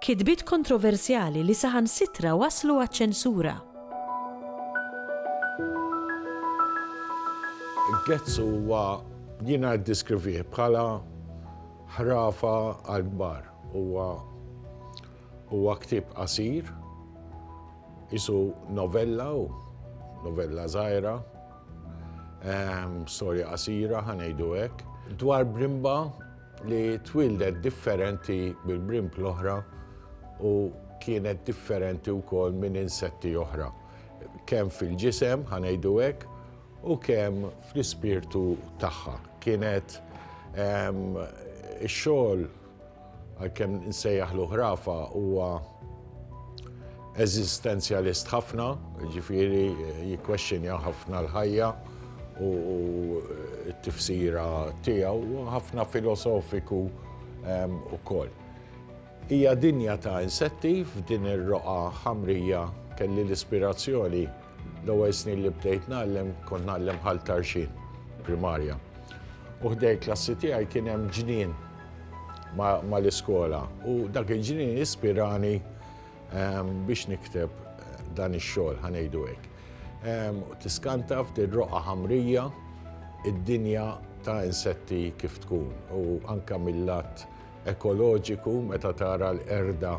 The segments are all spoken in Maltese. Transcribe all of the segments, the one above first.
Kitbiet kontroversjali li saħansitra wasslu għaċ-ċensura. Gets huwa, jiena ddiskrivih bħala ħrafa għall-kbar. Huwa huwa ktieb qasir, qisu novella hu, novella żgħira, storja qasira ħa ngħidu hekk, dwar brimba, li twildet differenti mill-brimp l-oħra u kienet differenti wkoll minn insetti oħra. Kemm fil-ġisem, ħanejdu hekk, u kemm fl-ispirtu tagħha. Kienet ehm, ix-xogħol għalkemm nsejjaħ l-ħrafa huwa eżistenzjalist ħafna, jiġifieri jikkwexxinja ħafna l-ħajja u t-tifsira tiegħu, u ħafna filosofiku wkoll. Hija dinja ta' insetti, f'din ir-roqgħa ħamrija kelli l-ispirazzjoni, l-ewwel snin li bdejt ngħallem kont ngħallem Ħal Tarxien, primarja. U ħdejn il-klassi tiegħi kien hemm ġnien mal-iskola u dak il-ġnien ispirani, biex nikteb dan ix-xogħol ħanejdu hekk. Tiskanta ftit roqa ħamrija id-dinja ta' insetti kif tkun u anka mill-lat ekoloġiku meta tara l-erda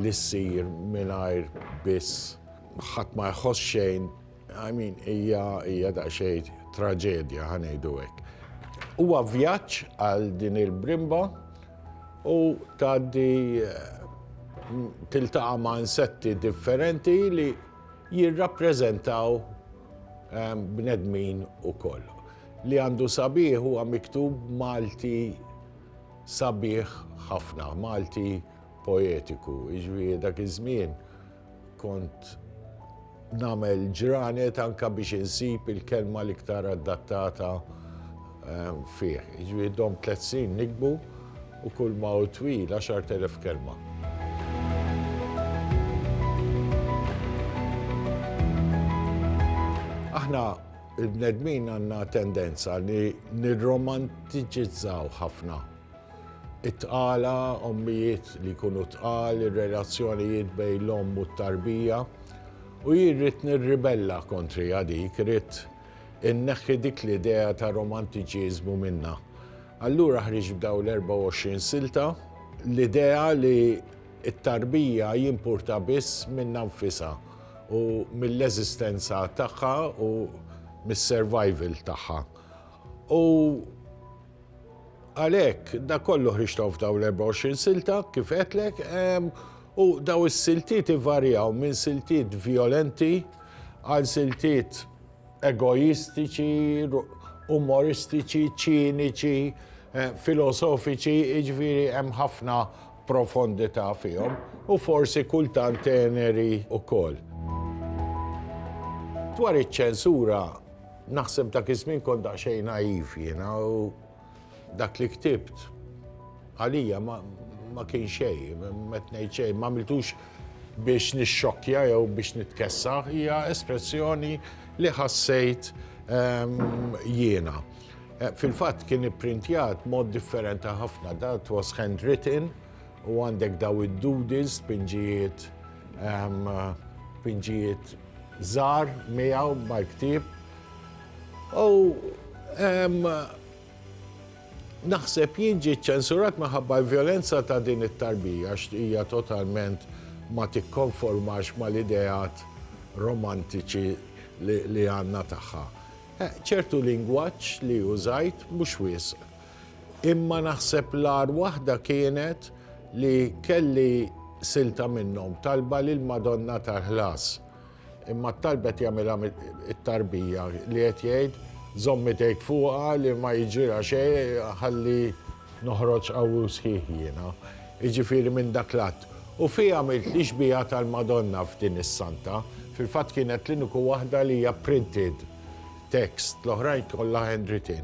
li ssir mingħajr biss ħadd ma jħoss xejn I mean, hija hija daqsxejn traġedja ħa ngħidu hekk. Huwa vjaġġ għal din il-brimba u tgħaddi tiltaqa' ma' insetti differenti li jirrappreżentaw ehm, bnedmin ukoll. Li għandu sabiħ huwa miktub Malti sabiħ ħafna, Malti poetiku, iġvi jiġifieri dak iż-żmien Kont nagħmel ġranet anke biex insib il-kelma l-iktar addattata ehm, fih. Jiġifieri dom tliet snin nikbu u kull ma hu twil 10,000 kelma. Aħna il-bnedmin għandna tendenza li nirromantiċizzaw ħafna It-tqala, ommijiet li jkunu tqal, ir-relazzjonijiet bejn l-omm u t-tarbija. U jien ridt nirribella kontriha dik, ridt inneħħi dik l-idea ta' romantiċiżmu minnha. Allura ħriġt b'dawn l-24 silta, l-idea li t-tarbija jimpurta biss minnha nfisha u mill-eżistenza tagħha u mis-survival tagħha. U. Għalhekk, dak kollu ħriġthom f'dawn l-24 silta, kif għedtlek, u dawn is-siltiet ivarjaw minn siltiet vjolenti għal siltiet egoistiċi, umoristiċi, ċiniċi, filosofiċi, jiġifieri hemm ħafna profondità fihom, u forsi kultant teneri wkoll. Dwar iċ-ċensura, Naħseb dak iż-żmien kont daqsxejn naiv jiena u dak li ktibt għalija ma kien xejn, met ngħid xejn, ma għamiltux biex nixxokkja jew biex nitkessa, hija espressjoni li ħassejt ehm, jiena. Eh, fil-fatt kien ipprintjat mod differenti ħafna, dat was handwritten u għandek daw id-doodles, pinġijiet ehm, pinġijiet żgħar miegħu mal-ktieb u naħseb jien ġie ċċensurat minħabba l-vjolenza ta' din it-tarbija għax hija totalment ma tikkonformax mal-ideat romantiċi li għandna tagħha. Ċertu lingwaġġ li użajt mhux wisq. Imma naħseb l-agħar waħda kienet li kelli silta minnhom, talba lill-Madonna tal-Ħlas. Imma t-talba qed jagħmilha it-tarbija li qed jgħid, żomm idejk fuqha li ma jiġrilha xejn ħalli noħroġ qawwi u sħiħ jiena. Jiġifieri minn dak l-att. U fi għamilt li xbieha tal-Madonna f'din is-Santa. Fil-fatt kienet l-iniku waħda li hija printed text, l-oħrajn kollha handwritten.